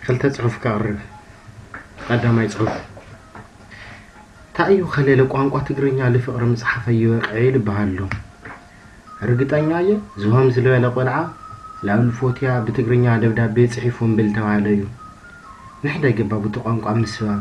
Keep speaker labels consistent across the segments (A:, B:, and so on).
A: ክልተ ጽሑፍ ከቕርብ ቀዳማይ ጽሑፍ ታእዩ ከለለ ቋንቋ ትግርኛ ልፍቕሪ ምጽሓፈ ይበቅዐ ልበሃሎ ርግጠኛ እየ ዝሆም ዝበለ ቆልዓ ላሉ ፎትያ ብትግርኛ ደብዳቤ ጽሒፉ እምብል ተባህለ እዩ ንሕደ ገባቡቲ ቋንቋ ምስባብ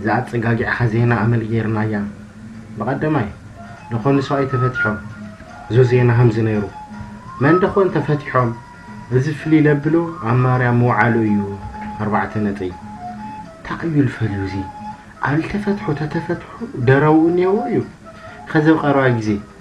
A: እዛ ኣጸጋጊዕኻ ዜና ኣመል ጌርናያ ብቀደማይ ደኾን ሰብኣይ ተፈቲሖም እዞ ዜና ከምዚ ነይሩ መን ደኾን ተፈቲሖም እዚ ፍልይ ለብሎ ኣብ ማርያም ምውዓሉ እዩ ኣርባዕተ ነጥቢ። ታይ እዩ ልፈልዩ እዚ ኣልተፈትሑ ተተፈትሑ ደረውኡ ኔዎ እዩ ኸዚ ኣብ ቀረባ ግዜ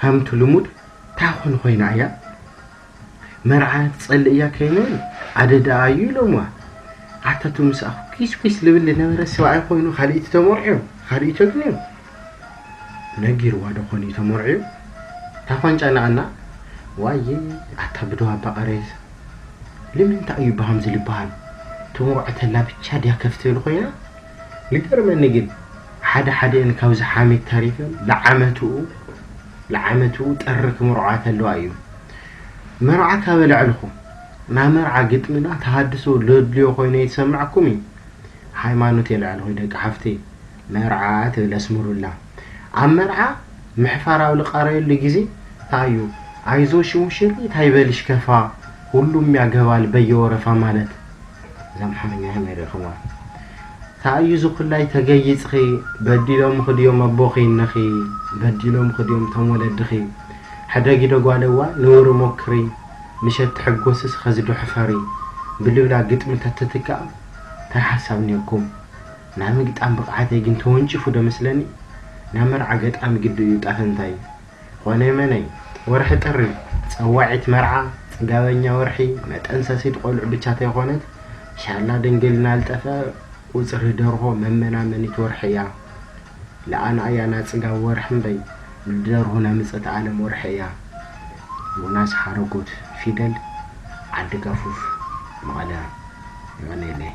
A: ከምቲ ልሙድ ታይ ኮን ኮይና እያ መርዓ ትፀልእ እያ ከይነን ኣደዳኣ እዩ ኢሎምዋ ኣታቱ ምስኣኹ ኪስ ኪስ ልብል ልነበረ ሰብኣይ ኮይኑ ካልኢቲ ተመርዕዮ ካልኢቲ ተግንዮ ነጊርዋ ዶ ኮን እዩ ተመርዕዮ ታኳንጫ ናኣና ዋየ ኣታ ብደዋ ኣባቀሬስ ልምንታይ እዩ ብሃምዚ ልበሃል ተመርዖ ተላ ብቻ ድያ ከፍ ትብል ኮይና ልገርመኒ ግን ሓደ ሓዲኤን ካብዚ ሓሜት ተሪፈን ልዓመትኡ ልዓመትኡ ጥሪ ክምርዖኣ ተለዋ እዩ መርዓ ካበ ልዕልኹም ናይ መርዓ ግጥሚና ተሃድሶ ለድልዮ ኮይኑ ኣይትሰምዕኩም እዩ ሃይማኖት የልዕልኹ ደቂ ሓፍተይ መርዓ ትብል ኣስምሩላ ኣብ መርዓ ምሕፋር ኣብ ልቃረየሉ ግዜ ታዩ ኣይዞሽ ሙሽሪት ኣይበልሽ ከፋ ሁሉም ያገባል በየወረፋ ማለት እዛ ኣምሓርኛ ከመይ ሪኢኽዋ ታይ እዩ እዚ ኩላይ ተገይፅኺ በዲሎምኺ ድዮም ኣቦኺ እነኺ በዲሎምኺ ድዮም እቶም ወለድኺ ሕደጊ ዶ ጓለዋ ንውሪ ሞክሪ ምሸት ትሕጎስስ ኸዚ ዶ ሕፈሪ ብልብላ ግጥሚ ተትትካእ ታይ ሓሳብ ኔርኩም ናይ ምግጣም ብቅዓተይ ግን ተወንጪፉ ዶ መስለኒ ናይ መርዓ ገጣሚ ግዲ እዩ እጣፈንታይ ኾነይ መነይ ወርሒ ጥሪ ጸዋዒት መርዓ ጽጋበኛ ወርሒ መጠንሰሲት ቆልዑ ብቻ ተይኾነት ሻላ ድንግልና ልጠፈ ቁጽሪ ደርሆ መመናመኒት ወርሒ እያ ልኣና እያ ናጽጋብ ወርሒ እምበይ ንደርሁ ናምጸት ኣለም ወርሒ እያ ዮናስ ሓረጎት ፊደል ዓዲ ጋፉፍ መቐለ የቐኔለይ።